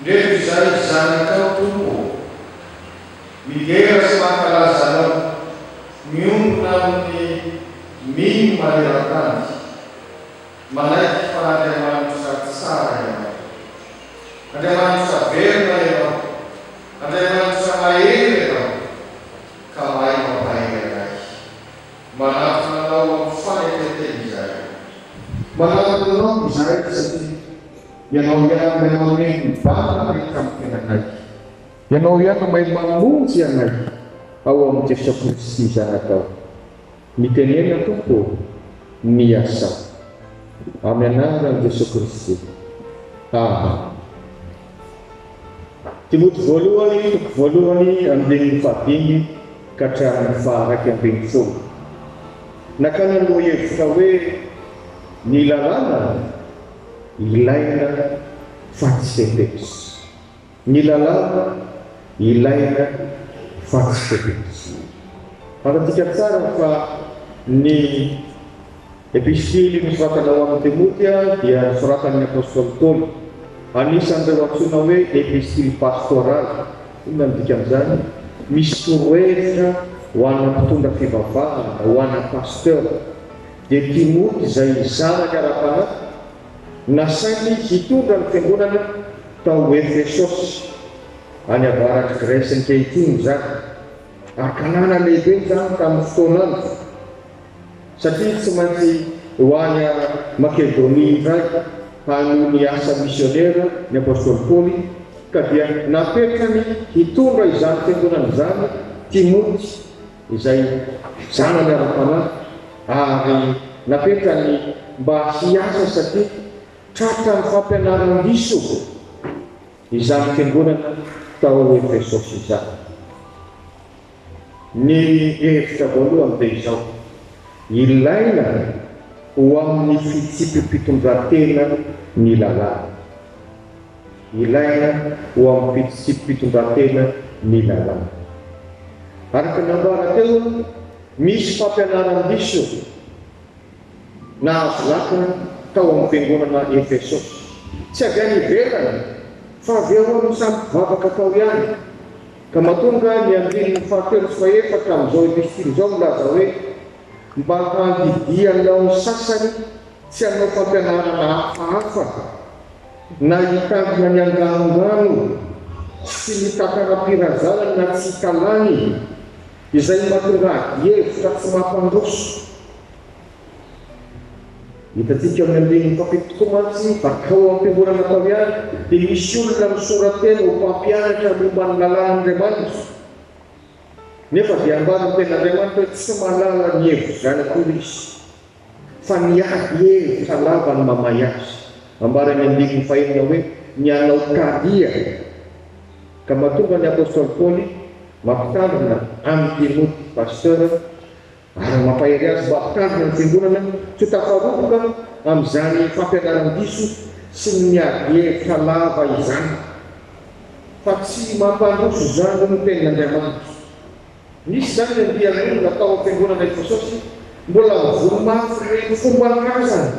Ndreto izay zanakao Tompo ô. Midera sy mankalaza Anao. Miombona amin'ny mino maneran-tany. Manaiky fa Andriamanitra tsara Ianao. Andriamanitra velona Ianao. Andriamanitra mahery Ianao. Ka mahay mampahery anay. Manatona Anao amin'ny fanetren-teny izahay. Manatona Anao izahay satria. Ianao ihany mahay mameno ny bala rehetra miteny anay. Ianao ihany no mahay mamonjy anay ao amin'ny Jesoa Kristy Zanakao. Mitenena Tompo ô, miasà. Amin'ny anaran'i Jesoa Kristy. Amen. Timoty voalohany, toko voalohany, andininy fahadimy ka hatramin'ny faharaika ambin'ny folo. Nakana ny lohahevitra hoe Ny Lalàna. ilaina fa tsy fepetra. Ny lalàna ilaina fa tsy fepetra. Fantatsika tsara fa ny Epistily nosoratana ho an'i Timoty dia nosoratan'ny apostoly Paoly. Anisan'ireo antsoina hoe epistily pastoraly. Inona no dikan'izany? Misy torohevitra ho ana mpitondra fivavahana, ho ana pasteur. dia Timoty izay zanaka ara-panahy nasainy hitondra ny fiangonana tao Efesosy, any avaratry Gresy ankehitriny izany. Ankanana lehibe izany tamin'ny fotoanany, satria tsy maintsy ho any Makedonia indray hanohy ny asa misionera ny apostoly Paoly, ka dia napetrany hitondra izany fiangonana izany Timoty. izay zanany ara-panahy ary napetrany mba hiasa satria tratran'ny fampianaran-diso izany fiangonana tao Efesosy izany. Ny hevitra voalohany dia izao, ilaina ho amin'ny fitsipi-pitondrantena ny lalàna. Ilaina ho amin'ny fitsipim-pitondrantena ny lalàna. Araka ny nambara teo, misy fampianaran-diso nahazo lakana tao amin'ny fiangonana Efesosy. Tsy avy any ivelany fa avy ao amin'ny samy mpivavaka tao ihany, ka mahatonga ny andininy fahatelo sy fahefatra amin'izao epistily izao milaza hoe, Mba handidianao ny sasany tsy hanao fampianarana hafahafa, Na hitangina ny anganon-drano sy ny takaram-pirazanany na tsy hikalany, izay mahatonga adihevitra tsy mampandroso. Hitantsika amin'ny andininy fahafito tokoa mantsy fa tao am-piangonana tao ihany dia misy olona misora-tena ho mpampianatra momba ny lalàn'Andriamanitra, nefa dia ambaran'ny Tenin'Andriamanitra hoe tsy mahalala ny hevizay akory izy. Fa ny ahy e, fa lava ny mamay azy. Ambara eny andininy fahenina hoe, Ny anao talia. Ka mahatonga ny apostoly Paoly mampitandrina an'i Timoty, Pasteur, ary mampahery azy mba hampitandrina ny fiangonana tsy ho tafaroboka amin'izany fampianaran-diso sy ny miadi-hevitra lava izany. Fa tsy mampandroso izany ny tenin'Andriamanitra. Nisy izany ny andian'olona tao am-piangonana i Jesosy, mbola mivory mafy ny hoe, Fomban-drazana!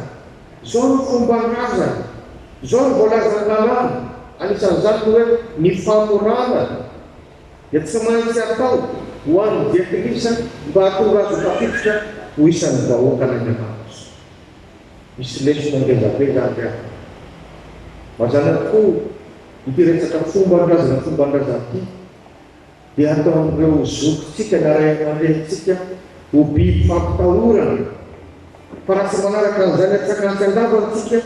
Izao no fomban-drazana! Izao no voalazan'ny Lalàna! Anisan'izany ny hoe ny famorana dia tsy maintsy atao ho an'ny dian-kilisa mba hahatonga azy ho tafiditra ho isan'ny vahoakan'Andriamanitra. Misy lesona ngeza be izany ry havana. Mazàna tokoa ity resaka fomban-drazana fomban-drazana ity. dia ataon'ireo zokintsika na ray aman-drenintsika ho biby fampitahorana. Fa raha tsy manaraka an'izany antsakantsy an-davany isika,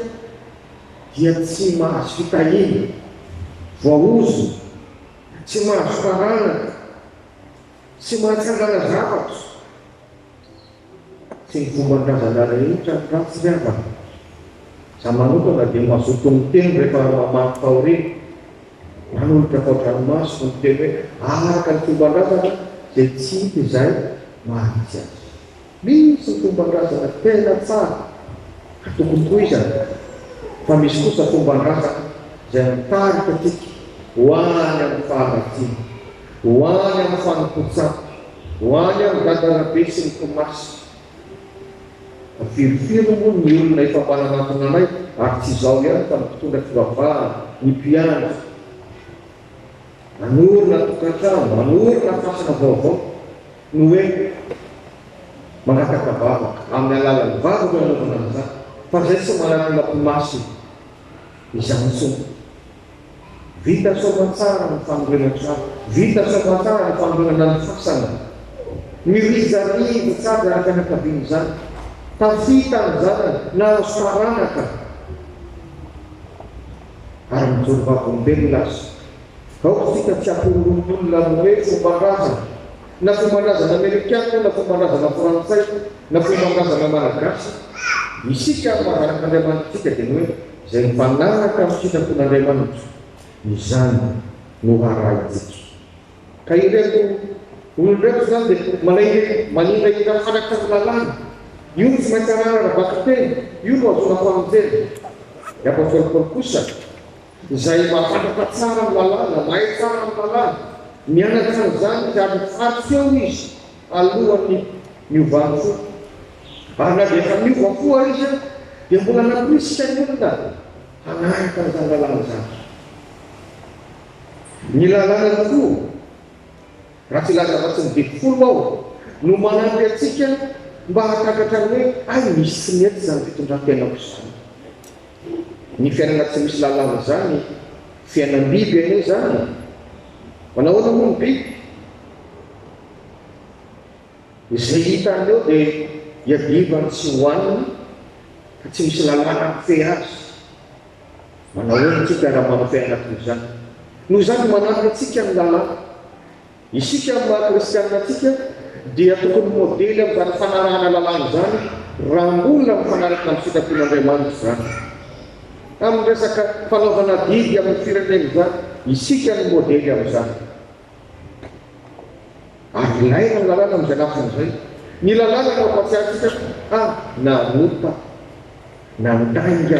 dia tsy mahazo fitahiana, voaozona, tsy mahazo taranaka, tsy mahatsangana zavatra. Tsy ny fomban-drazana rehetra ny ratsy ry havana. Za manokana dia mazoto miteny rehefa mamaky fahoriana. Manolotra fao-dranomasoko miteny hoe araka ny fomban-drazana izay tsy hita izay maha-izy azy. Misy ny fomban-drazana tena tsara ka tokony tohizana fa misy kosa fomban-drazana izay mitarika antsika ho any amin'ny faharatsiana. Ho any amin'ny fanompoan-tsampy, ho any amin'ny gadarabe sy ny komasy. Virifiry moa ny olona efa mba nanatona anay ary tsy izao ihany fa ny mpitondra fivavahana, ny mpiandry, hanorina tokantrano, hanorina fasana vaovao no hoe mangataka vavaka, amin'ny alalan'ny vavaka no anaovana an'izany fa izay tsy manana komasy izany intsony. Vita soamantsara ny fanorenan-trano, vita soamantsara ny fanorenana ny fasana. Ny rijarivo tsy avy araka ny ankabian'izany. Tafita ny zanany, nahazo taranaka ary mijoro vavolombelona aza. Ao isika tsy hampihorohorontolona amin'ny hoe fomban-drazana, na fomban-drazana amerikana io na fomban-drazana frantsay na fomban-drazana malagasy. Isika amin'ny maha zanak'Andriamanitra antsika dia ny hoe. izay mifanaraka amin'ny sitrapon'Andriamanitra, izany no arahintsika. Ka ireto olona ireto izany dia manahirika, maningahina araka ny lalàna. Io no tsy maintsy arahina raha vakiteny, io no ahazoana famonjena. Ny apostoly Paoly kosa, izay mahafantatra tsara ny lalàna, mahay tsara ny lalàna, mianatra an'izany izy ary mifaly feo izy Alohan'ny niovany fo. Ary na dia efa niova fo ary izy dia mbola namporisika ny olona hanaraka izany lalàna izany. Ny lalàna ny fo, raha tsy hilaza afa-tsy ny didy folo aho, no manampy antsika mba hahatakatra ny hoe hay misy tsy mety izany fitondran-tenako izany. Ny fiainana tsy misy lalàna izany, fiainam-biby anie izany. Manahoana moa ny biby? Izay hitany eo dia iadivany tsy hohaniny ka tsy misy lalàna mifehy azy. Manahoana antsika raha mampifehy anay toy izany? Noho izany manampy antsika ny lalàna. Isika amin'ny maha kristiana antsika dia tokony modely amin'izany fanarahana lalàna izany raha mbola mifanaraka amin'ny sitrapon'Andriamanitra izany. Amin'ny resaka fanaovana adidy amin'ny firenena izany, isika no modely amin'izany. Avon'aina ny lalàna amin'izay lafiny izay. Ny lalàna no hampahatsiahy antsika fa nanompa, nandainga,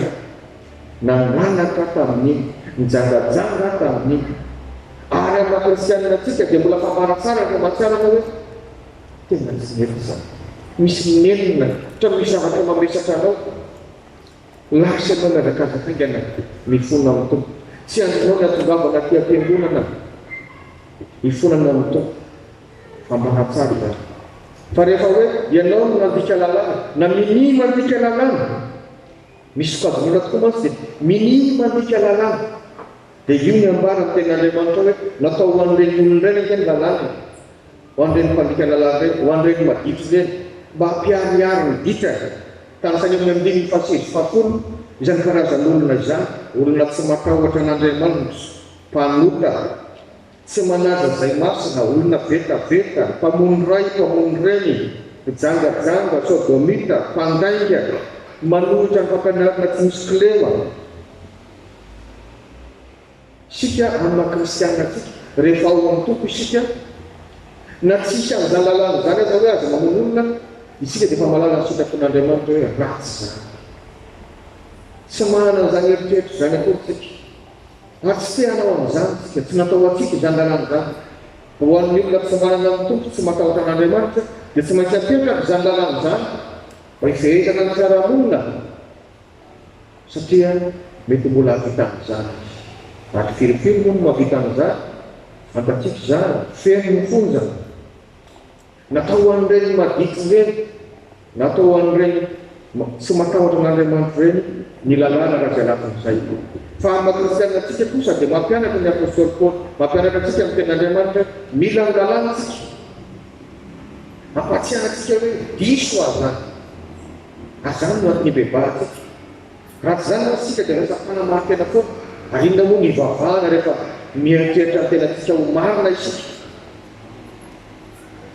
nananatra tamin'ny, nijangajanga tamin'ny. Ary amin'ny maha kristianina antsika dia mbola fambara tsara ny famantarana hoe tena tsy nety izany. Misy nenina, ohatran'ny misy zavatra mamesatra anao. Lasa ianao miazakazaka haingana ny fonao amin'ny Tompo. Tsy azonao ny atongavana aty am-piangonana hifonana amin'ny Tompo fa manatsara izany. Fa rehefa hoe ianao no nandika lalàna na minia mandika lalàna, ny sokajin'olona tokoa mantsy dia minia mandika lalàna, dia io ny ambara ny tenin'Andriamanitra hoe natao ho an'ireny olona ireny ange ny lalàna e. Ho an'ireny mpandika lalàna ireny, ho an'ireny maditra ireny, mba hampiharihary ny dikany, tahaka ny amin'ny andininy fahasivy sy fahafolo, izany karazan'olona izany, olona tsy matahotra an'Andriamanitra, mpanota, tsy manaja izay masina, olona vetaveta, mpamono ray, mpamono reny, mpijangajanga, sôdômita, mpandainga, manohitra ny fampianarana tsy misy kilema. Isika amin'ny maha kristiana antsika, rehefa ao amin'ny Tompo isika, na tsy hisy an'izany lalàna izany aza hoe aza mamono olona, isika dia efa mahalala ny sitrapon'Andriamanitra hoe ratsy izany. Tsy manana an'izany eritreritra izany akory isika, ary tsy te hanao an'izany isika. Tsy natao ho antsika izany lalàna izany. Ho an'ny olona tsy manana ny Tompo, tsy matahotra an'Andriamanitra, dia tsy maintsy ampiantrany izany lalàna izany, mba hifehezana ny fiarahamonina. satria mety mbola hahavita an'izany izy. Ary firy firy moa no mahavita an'izany? Fantatsika izany, feno ny fonjany. Natao ho an'ireny maditra ireny, natao ho an'ireny tsy matahotra an'Andriamanitra ireny ny lalàna raha izay lafin'izay. Fa amin'ny maha-kristianina antsika kosa dia mampianatra ny apostoly Paoly, mampianatra antsika ny Tenin'Andriamanitra hoe mila ny lalàna isika. Ampahatsiahintsika hoe diso aza. ary izany no antony hibebaha antsika. Raha tsy izany mantsy isika dia lasa mpanamarin-tena foana, ary inona moa no hivavahana rehefa mieritreritra ny tenantsika ho marina isika?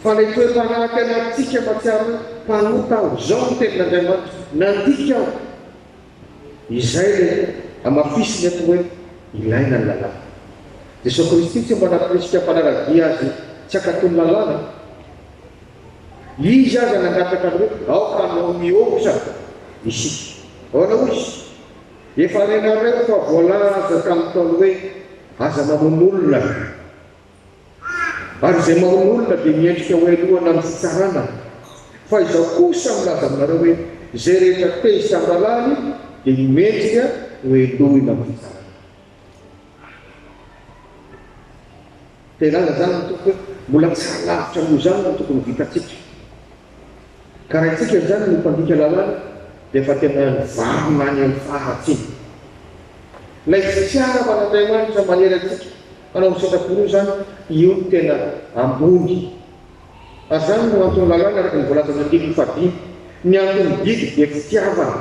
Fa ilay toe-panahy aty anatintsika mahatsiaro hoe mpanota aho, izao no tenin'Andriamanitra, nandika aho. Izay ilay hamafisiny eto hoe ilaina ny lalàna. Jesosy Kristy tsy mba nampirisika mpanara-dia Azy tsy hankatò ny lalàna. Izy aza nangataka ny hoe, Aoka hanao mihoatra isika. Ahoana hoy Izy? Efa renareo fa voalaza tamin'ny Ntaolo hoe, Aza mamono olona, ary izay mamono olona dia miendrika ho heloha na amin'ny fitsarana. Fa izao kosa milaza aminareo hoe, Izay rehetra tezitra amin'ny rahalahiny dia ho mendrika ho helohina amin'ny fitsarana. Dia zany zany ny tompoko hoe mbola tsy ary lavitra noho izany no tokony ho vitantsika. Ka raha isika izany no mpandika lalàna dia efa tena nivarina any amin'ny faharatsiana. Ilay fitiavan'Andriamanitra manery antsika hanao ny sitrapony io izany, io no tena ambony. Ary izany no anton'ny lalàna araka ny voalazan'ny andininy fahadimy, ny anton'ny didy dia fitiavana.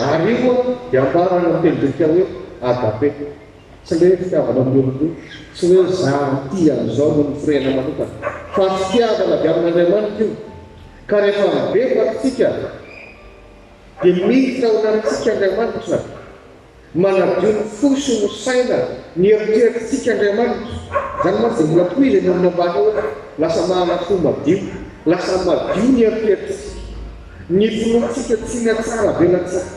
Ary io moa dia ambarany amin'ny teny grika hoe agape, tsy ilay hoe fitiavana amin'ny olon-droa, tsy hoe izaho mitia an'izao noho ny firehana manokana, fa fitiavana avy amin'Andriamanitra io. Ka rehefa mibebaka isika, dia miditra ao anatintsika Andriamanitra, Manadio ny fo sy ny saina ny eritreritr'tsika Andriamanitra. Izany mantsy dia mbola tohizo eny amin'ny ambany eo hoe lasa manana fo madio. Lasa madio ny eritreritr'tsika. Ny finoantsika tsy ny hatsaravelatsika.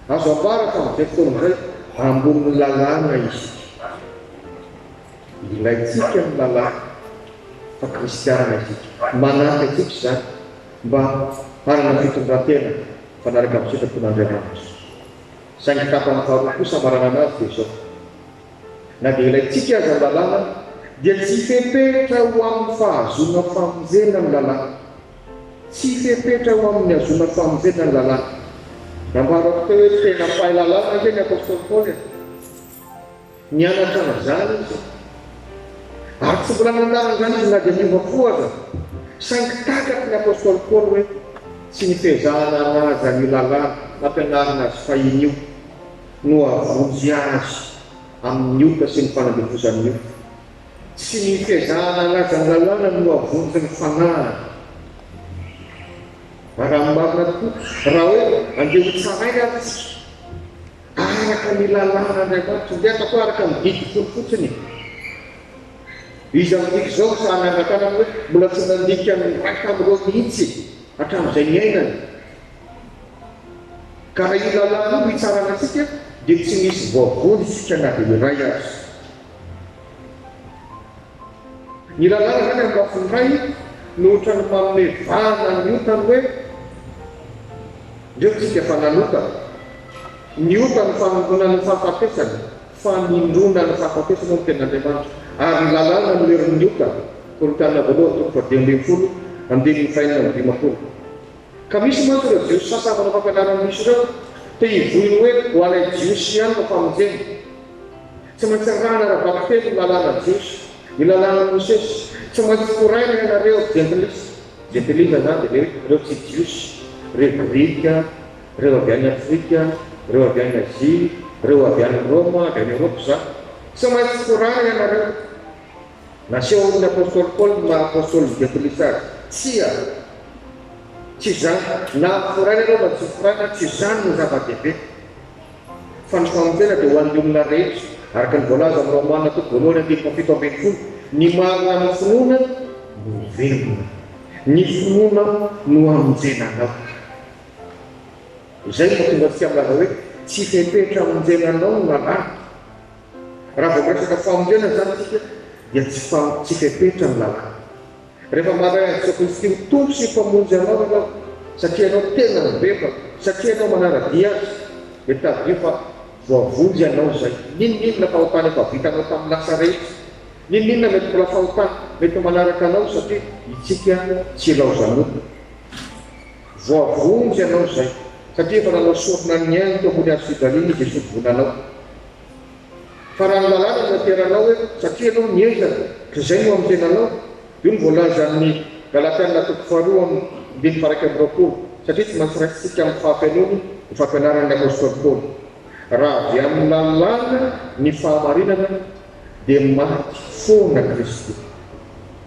Azo ambara fa amin'izay fotoana izay ambonin'ny lalàna isika. Ilaintsika ny lalàna fa kristiana isika. Manampy antsika izany mba hanana fitondran-tena. mifanaraka amin'ny sitrapon'Andriamanitra. Saingy tapany faharoa kosa maranana azy dia izao, Na dia ilaintsika aza ny lalàna, dia tsy fepetra ho amin'ny fahazoana famonjena ny lalàna. Tsy fepetra ho amin'ny hahazoana famonjena ny lalàna. Nambarako teo hoe tena mpahay lalàna ange ny apostoly Paoly e! Nianatra an'izany izy, ary tsy mbola nandà an'izany izy na dia niova fo aza. Saingy takaky ny apostoly Paoly hoe tsy ny fiezahana hanaja an'io lalàna nampianarina azy fahiny io no hahavonjy azy amin'ny ota sy ny fanandevozan'ny ota. Tsy ny fiezahana hanaja ny lalàna no hahavonjy ny fanahiny. Arahin'ny marina tokoa raha hoe andeha hotsaraina ary isika. Araka ny lalàn'Andriamanitra, ndeha ataoko araka ny didy folo fotsiny e! Iza midika izao ny sahan'ny angan-tanana hoe mbola tsy nandika ny iray tamin'ireo mihitsy hatramin'izay niainany? Ka raha io lalàna io no hitsarana antsika dia tsy misy voavonjika na dia iray aza. Ny rahalahy izany amin'ny lafiny iray no ohatran'ny manome vahana ny ota ny hoe, Ndreo tsika fa nanota. Ny ota no fanondronana ny fahafatesana, fanindrona ny fahafatesana hoy ny Tenin'Andriamanitra. Ary ny lalàna no herin'ny ota, Korintiana Voalohany toko fahadimy ambin'ny folo, andininy fahenina amby dimampolo. Ka misy mantsy ireo Jiosy sasany manao fampianaran'ny diso ireo, te hivoy ny hoe ho anay Jiosy ihany no famonjena. Tsy maintsy arahina ara-bakiteny ny lalàna jiosy, ny lalànan'i Mosesy. Tsy maintsy toraina ianareo jentilisa, jentilisa izany dia ilay hoe ireo tsy jiosy, ireo grika, ireo avy any Afrika, ireo avy any Azia, ireo avy any Roma, avy any Eoropa izany. Tsy maintsy toraina ianareo. Nasehon'ny apostoly Paoly ny maha apostolin'ny jentilisa azy. Tsia. Tsy izany. Na toraina ianao na tsy toraina, tsy izany no zava-dehibe. Fandripaham-pera dia ho an'ny olona rehetra, araka ny voalaza amin'ny Romana toko voalohany andininy fahafito ambin'ny folo, ny marina amin'ny finoana no ho velona, ny finoana no hamonjena anao. Izay no mahatonga antsika milaza hoe tsy fepetra hamonjena anao no lalàna. Raha vao miresaka famonjena izany isika dia tsy tsy fepetra ny lalàna. Rehefa manahy an'i Jesoa Kristy ho Tompo sy Mpamonjy anao ianao, satria ianao tena mibebaka, satria ianao manara-dia Azy, dia tadidio fa voavonjy ianao izay. N'inon'inona fahotana efa vitanao tamin'ny lasa rehetra, n'inon'inona mety mbola fahotana mety ho manaraka anao, satria Itsika tsy ilaozan'olona. Voavonjy ianao izay, satria efa nanao sorona ny ainy teo ambony Hazo fijaliana i Jesoa Vonanao. Fa raha ny lalàna no ateranao hoe satria ianao nientana ka izay no amin'ny tenanao, io no voalaza amin'ny Galatiana toko faharoa amby ndimy faha iraika amby roapolo, satria tsy maintsy raisintsika amin'ny fahafenoany ny fampianaran'ny apostoly Paoly, Raha avy amin'ny lalàna ny fahamarinana, dia maty foana Kristy.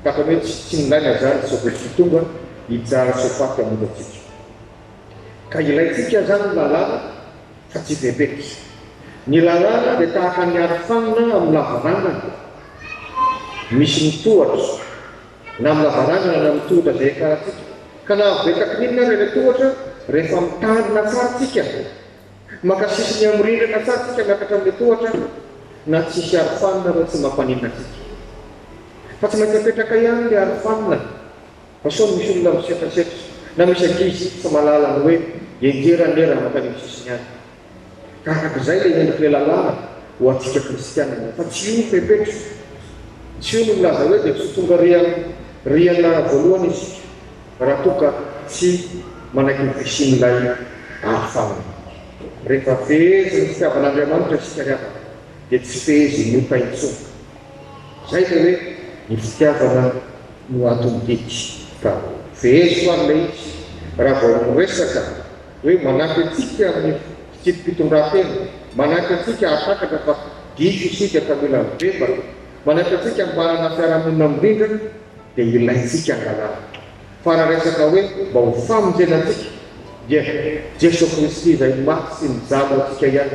Tahaka ny hoe tsy tsy nilaina izany sao dia tsy tonga hijara sy ho faty hamonjy antsika. Ka ilaintsika izany ny lalàna. fa tsy bebeka. Ny lalàna dia tahaka ny arofanina amin'ny lavarangana misy ny tohatra, na amin'ny lavarangana na amin'ny tohotra izay iakarantsika. Ka na avo be takininona ary ilay tohatra, rehefa mitandrina tsara tsika, maka sisiny amin'ny rindrina tsara tsika miakatra amin'ilay tohatra, na tsy hisy arofanina ary tsy mampaninona antsika. Fa tsy maintsy apetraka ihany ilay arofanina. Sao misy olona misetrasetra na misy ankizy tsy mahalala ny hoe enjery anera mankany amin'ny sisiny any. Ka araka izay ilay endrik'ilay lalàna ho antsika kristianina fa tsy io fepetra. Tsy io no milaza hoe dia tsy ho tonga rian riana voalohany isika raha toa ka tsy manaiky ny fisian'ilay aro fanina. Rehefa feheziny ny fitiavan'Andriamanitra isika ry havana. dia tsy fehezin' ny oka intsony. Izay ilay hoe ny fitiavana no anton' didy ka feheziko ary ilay izy raha vao miresaka hoe manampy antsika amin' ny fitsipi-pitondran-tena, manampy antsika hahatakatra fa diso isika ka mila mibebaka, manampy antsika mba hanana fiarahamonina mirindra dia ilaintsika angalana. Fa raha resaka hoe mba ho famonjena antsika dia Jeso Kristy izay maty sy nijanona antsika ihany